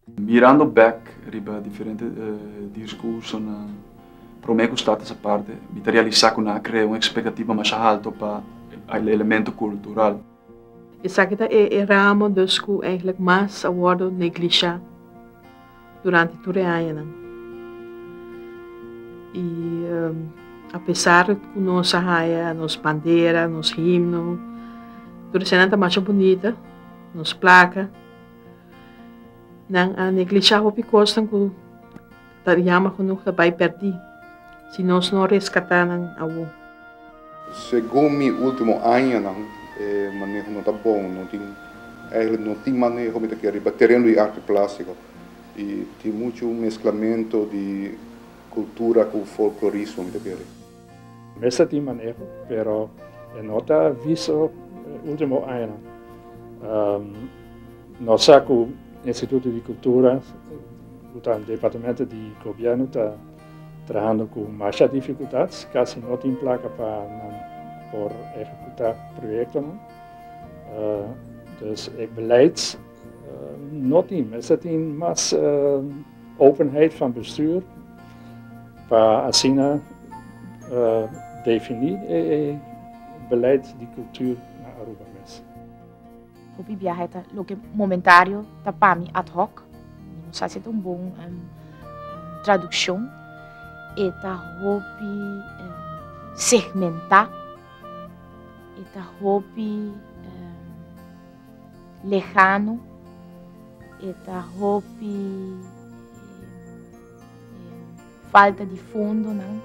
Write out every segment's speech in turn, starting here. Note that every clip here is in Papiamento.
Mirando bek riba diferente diskursonan, promé ku Staten sa parte, mi ta realisá ku nan a krea un ekspektativa masha haltu pa e elementu kultural. Esaki ta e ramo dus ku enklik mas a wòrdu neglishá. durante tur e añanan. I apesar ku nos a haya nos bandera, nos himno, tur esanan ta masha bunita, nos plaka, nan a neglishá hopi kosnan ku ta yama ku nos ta bai pèrdí. Si nos no reskatá nan awor. Segun mi último añanan e maneho no ta bon, no tin, eigenlijk no tin maneho mi ta keda riba tereno di arte plástico y tin muchu mezclamento di cultura cu folklorismo mi ta keda. Mester tin maneho pero e no ta visto e último añanan. Nos sa cu Instituto di Cultura cu ta departamento di Gobierno ta. Trahando cu masha dificultats, casi no tin placa pa nan por ehecuta proyectonan. Dus e beleids no tin, mester tin mas openheid van bestuur pa asina defini e beleid di cultuur na Aruba mes. Hopi biahe ta loke momentario, ta pa mi ad hoc. Mi no sa si e ta un bon traduccion. E ta hopi segmentá, e ta hopi lehano, e ta hopi Falta di fondonan.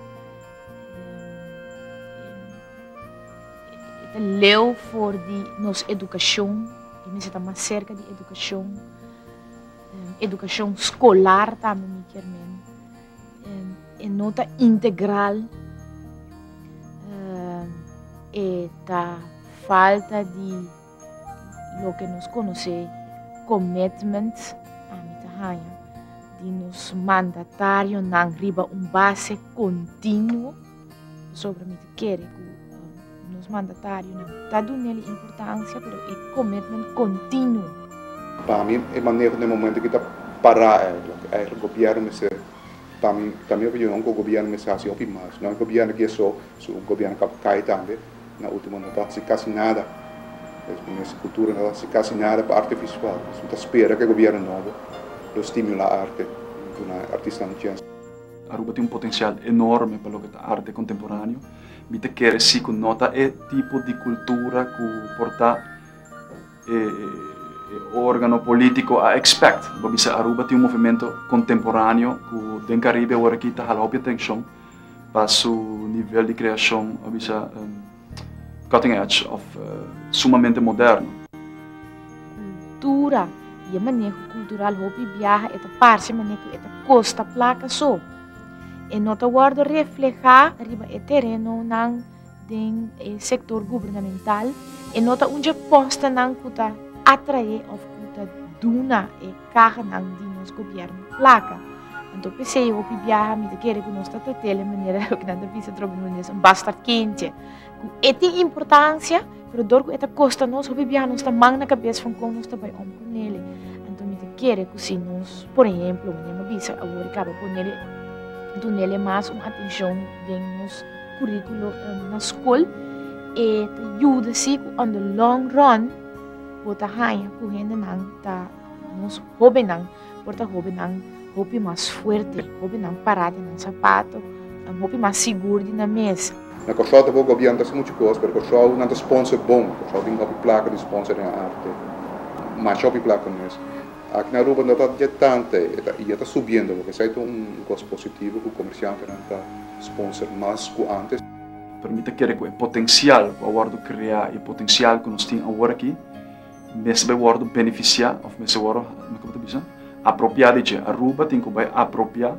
E ta leu for di nos edukashon. E mester ta mas serka di edukashon. Edukashon skolar tambe mi kier men. E no ta integral. E ta falta di. Loke nos konosé commitment ami ta haña di nos mandatarionan riba un base continuo, pasobra mi ta kere ku nos mandatarionan ta dun'el e importansia pero e commitment continuo. Pa mi e manera den momento ki ta pará eigenlijk, eigenlijk gobièrnu mester pa mi, ta mi opinion, ku gobièrnu mester hasi hopi mas. No e gobièrnu ki e so, su gobièrnu kab kai tambe. Na ultimo no ta hasi casi nada. Pues cu mes cultura no ta hasi casi nada pa arte visual. Pues mi ta spera cu e gobierno nobo lo stimula arte, duna e artistanan chance. Aruba tin un potencial enorme pa loke ta arte contemporaneo. Mi ta kere si cu no ta e tipo di cultura cu por ta. e organo politico a expect. Bo a bisa Aruba tin un movimento contemporaneo cu den Caribe awor aki ta hala hopi atencion pa su nivel di creacion a bisa cutting edge of sumamente moderno. Cultura y e maneho cultural hopi biaha e ta parce manera cu e ta costa placa so. E no ta wordo refleha riba e terenonan. den e sektor gubernamental e no ta un dje postenan ku ta atraé òf ku ta duna e kahanan di nos gobièrnu plaka. Anto p'esei e hopi biaha mi ta kere ku nos ta tratel e manera loke nan ta bisa trobe en holandés un bastard kindje. Ku e tin importansia pero dor ku e ta kosta nos hopi biaha nos ta man na kabes fon kon nos ta bai om ku nele. Anto mi ta kere ku si nos por ehemplo manera mi a bisa awor i kaba ponele dunele mas un atenshon den nos. curriculo na scol e ta yuda si cu on the long run bo ta haya cu hendenan ta nos hobennan por ta hobennan hopi mas fuerte, hobennan para den nan sapato, nan hopi mas sigur di nan mes. Na Kòrsou ta bo gobièrn ta haci muchu cos, pero Kòrsou nan ta sponsor bon. Kòrsou tin hopi placa di sponsor den arte, masha hopi placa mes. Aki na Aruba no ta dje tanta e ta subiendo, esei ta un cos positivo cu comerciantenan ta. Sponsor mas ku antes. Pero mi ta kere ku e potensial ku a wòrdu kreá i e potensial ku nos tin awor aki mester bai wòrdu benefisiá òf mester wòrdu, kiko mi ta bisa? apropiá di dje. Aruba tin ku bai apropiá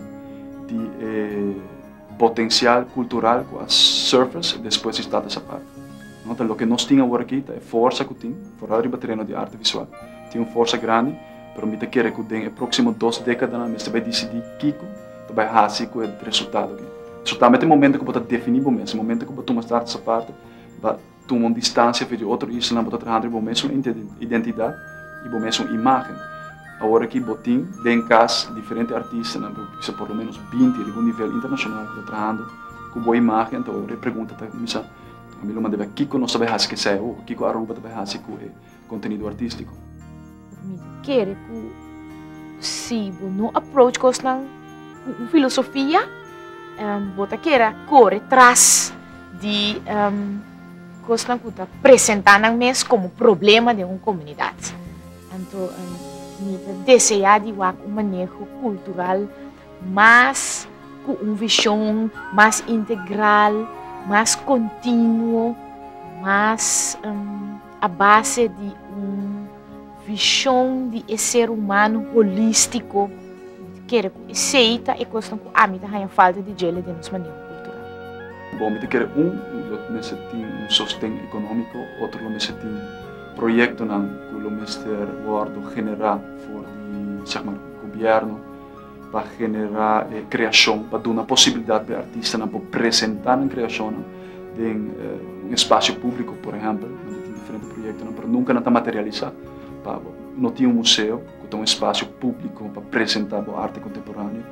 di e potensial kultural ku a surface despues di Stad di Sao Paulo. Nota, loke nos tin awor aki ta e forsa ku tin, foral riba tereno di arte visual, tin un forsa grandi, pero mi ta kere ku den e próksimo dos dékadanan mester bai disidí kiko, ta bai hasi ku e resultado aki. So tambe ta e momentu ku bo ta definí bo mes, e momentu ku bo tuma startes aparte, bo tuma un distansia aver di otro isla nan, bo ta trahando riba bo mesun identidat i bo mesun imágen. Awor ki bo tin den kas diferente artistanan, bo bisa por lo ménos binti riba un nivel internashonal ku ta trahando ku bo imágen, ta awor e pregunta ta kuminsá, Ami lo manda a biaha kiko nos ta bai hasi ku esei awor? Kiko Aruba ta bai hasi ku e. Contenido artistico. Mi ta kere cu si bo no approach cosnan cu un filosofia, bo ta kere a core tras di cosnan cu ta presenta nan mes como problema den un comunidad. Anto mi ta desea di wak un maneho cultural mas cu un vision mas integral, mas continuo, mas. a base di un vishon di e ser humano holístiko, kere ku esei ta e kosnan ku ami ta haña falta di djele den nos maneho kultural. Bon, mi ta kere un lo mester tin un sosten ekonómiko, otro lo mester tin proyektonan ku lo mester wòrdu generá for di sègmar gobièrnu, pa generá e kreashon, pa duna posibilidat pa e artistanan por presentá nan kreashonnan den un espasio públiko, por ehèmpel, nan ta tin diferente proyektonan, pero nunka nan ta materialisá. Pa bo no tin un museo ku ta un espasio públiko pa presentá bo arte kontemporáneo,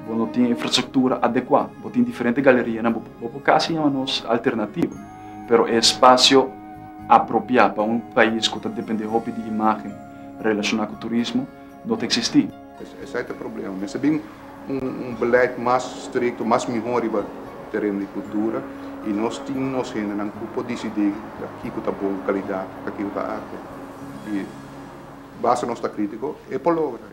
bo no tin infrastruktura adekuá, bo tin diferente galerianan, bo bo por kasi yama nos alternativo, pero e espasio apropiá pa un pais ku ta dependé hopi di imágen relashoná ku turismo no ta eksistí. Esai ta problema. Mester bin un beleid mas strikto, mas mihó riba tereno di kultura i nos tin nos hendenan ku por disidí kiko ta bon kalidat, kiko ta arte. I basta nos ta krítiko, e por logra.